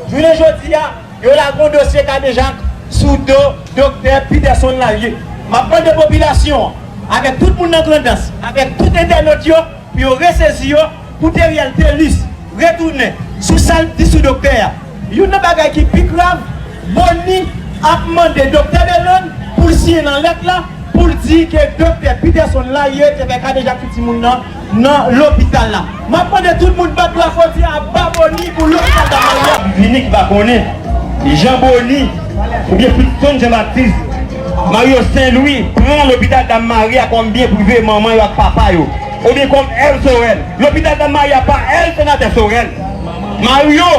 Jounen jodi a, yo lagon dosye kadejak sou do Doktè Peterson Lalie. M ap mande popilasyon an, avèk tout moun nan Grandans, avèk tout entènot yo, Pou yo resezi yo pou Theriel Thelus retounen sou sa l t di sou doktè a. Youn nan bagay ki pi grav, Boni ap mande doktè Belonn pou l siyen nan lèt la pou l di ke doktè Peterson Laye te fè kadejak sou timoun nan nan lopital la. M ap mande tout moun bat bravo di a ba Boni pou lopital da Maria. Vini ki pa konnen jan Boni oubyen Peterson Jean Baptiste Mario Sen Lwi pran lopital Dam Maria kòm byen prive manman yo ak papa yo oubyen kòm èv Sorèl. Lopital Dam Maria pa èv Senatè Sorèl. Mario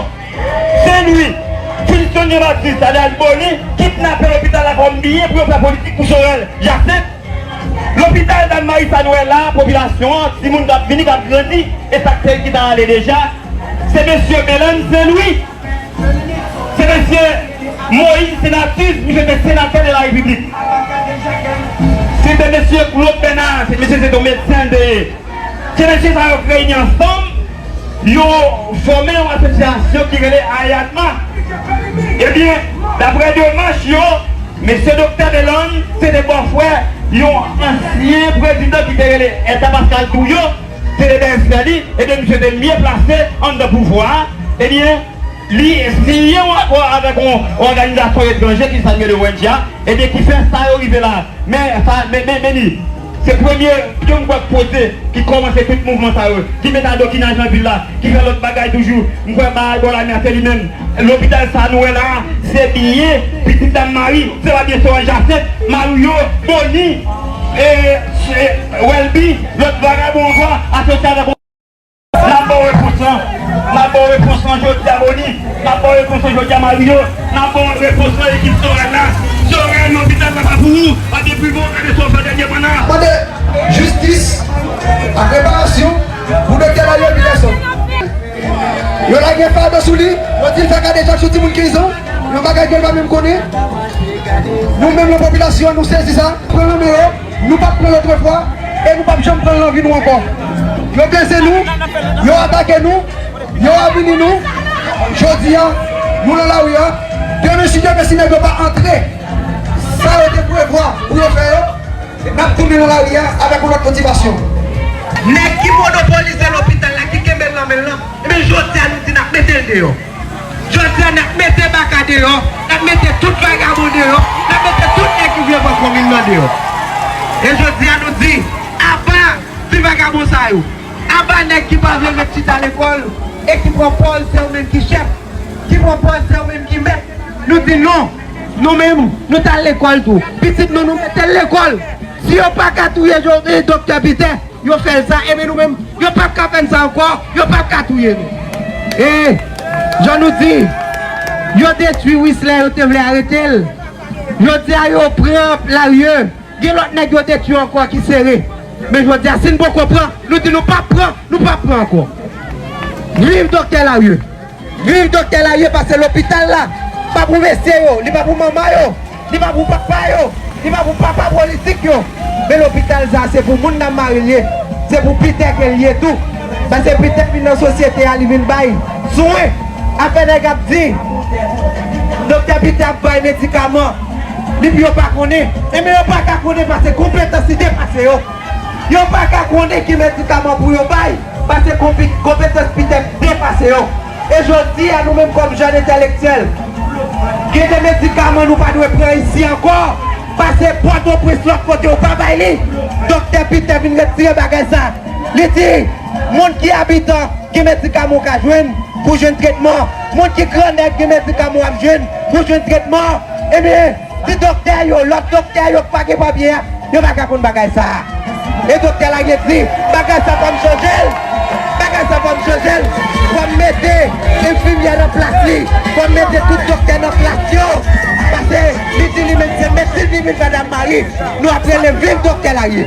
Sen Lwi, Filiston Jean Baptiste alyas Boni kidnapè lopital la kòm byen pou yo fè politik pou Sorèl Jasent. Lopital Dam Mari sa n wè la, popilasyon an, timoun k ap vini, k ap grandi e sa k te ki ta ale deja se mesye Belan Sen Lwi. Se mesye Moïse Senatus, misye se senatè de la repiblik. Se de mesye Claude Bernard, se mesye se ton medsen l te ye. Se mesye sa yo k reyini ansanm, yo fòme yon asosyasyon ki rele AYADMA. Ebyen, daprè demach yo, mesye doktè Belon se te bòfrè yon ansyen prezidan ki te rele Edda Pascal Trouillot. Se le bèz fè li, ebyen misye te mye plase anndan pouvwa a, ebyen li liye avèk yon òganizasyon etranje ki sa li rele ong a, ebyen ki fè sa yo rive la a. Men sa, men li, se premye pyon m kwè k poze ki kòmanse tout mouvman sa yo, ki met adokina jan vil la, ki fè lòt bagay toujou, m kwè bagay bò lamè a se li menm. Lopital sa nou wè la a se biyè pitit dam Mari, se pa biyè Sorèl Jasent, Mario, Boni, Welby, lòt vagabon ankò asosye avèk ou. N ap ba w repons lan. N ap ba w repons lan jodi a Boni. N ap ba w repons lan jodi a Mario. N ap ba w repons lan ekip Sorèl la. Sorèl lopital la pa pou ou. Pa gen pi bon gade sa w fè dènyèman la. Mande jistis ak reparasyon pou doktè Mario Picasso. Yo lage fado sou li, yo di l fè kadejak sou timoun 15 an, yon bagay ke l pa menm konnen. Nou menm nan popilasyon an, nou sezi sa, pran nan men yo, nou pa t pran l otrefwa e nou p ap janm pran l nan vi nou ankò. Yo blese nou, yo atake nou, yo avili nou. Jodi a, nou nan lari a, demen si Dye vle si nèg yo pa antre sa yo te prevwa pou yo fè yo, N ap tounen nan lari a avèk yon lòt motivasyon. Nèg ki monopolize lopital la, ki kenbe l nan men l lan, enben jodi a nou di n ap mete l deyò. Jodi a n ap mete Baka deyò, n ap mete tout vagabon deyò, n ap mete tout nèg ki vle pran komin nan deyò. E jodi a nou di, aba ti vagabon sa yo, aba nèg ki pa vle ret chita lekòl e ki pran pòz se yo menm ki chèf, ki pran pòz se yo menm ki mèt. Nou di non! Nou menm nou tal lekòl tou pitit nou nou metel lekòl si yo paka touye doktè Piter yo fèl sa ebyen nou menm yo pap ka fèn sa ankò yo pap ka touye nou e Jan nou di yo detwi Wisler yo te vle aretel jodia yo pran Larie gen lòt nèg yo detwi ankò ki sere men jodia si nou poko pran nou di nou pap pran nou pap pran ankò viv doktè Larie. Vil doktè la ye pase lopital la pa pou mesye yo, li pa pou manman yo, li pa pou papa yo, li pa pou papa politik yo men lopital sa se pou moun nan maril ye se pou Peter kel ye tou pase Peter vin nan sosyete a li vin bay swen afè nèg ap di doktè Peter ap bay medikaman li pou yo pa konnen enben yo paka konnen pase konpetans li depase yo. Yo pa ka konnen ki medikaman pou yo bay, pase konpetans pitep depase yo. E jodi a nou menm kòm jèn entèlektyèl, gen de medikaman nou pa dwe pran isi ankò, pase Pòtoprens lòt kote yo pa bay li. Doktè Pitè vin retire bagay sa, li di, moun ki abitan gen medikaman ou ka jwenn pou jwenn tretman, moun ki grannèg gen medikaman w ap jwenn pou jwenn tretman. Ebyen! Se doktè yo, lòt doktè yo ki pa gen papye a, yo pa ka konn bagay sa a. E doktè la gen di, bagay sa fò m chanje l, bagay sa fò m chanje l, fò m mete enfimyè nan plas li, fò m mete tout doktè nan plas yo. Pase li di li menm se medsin li vin fè Dam Mari, nou ap rele viv doktè Laye.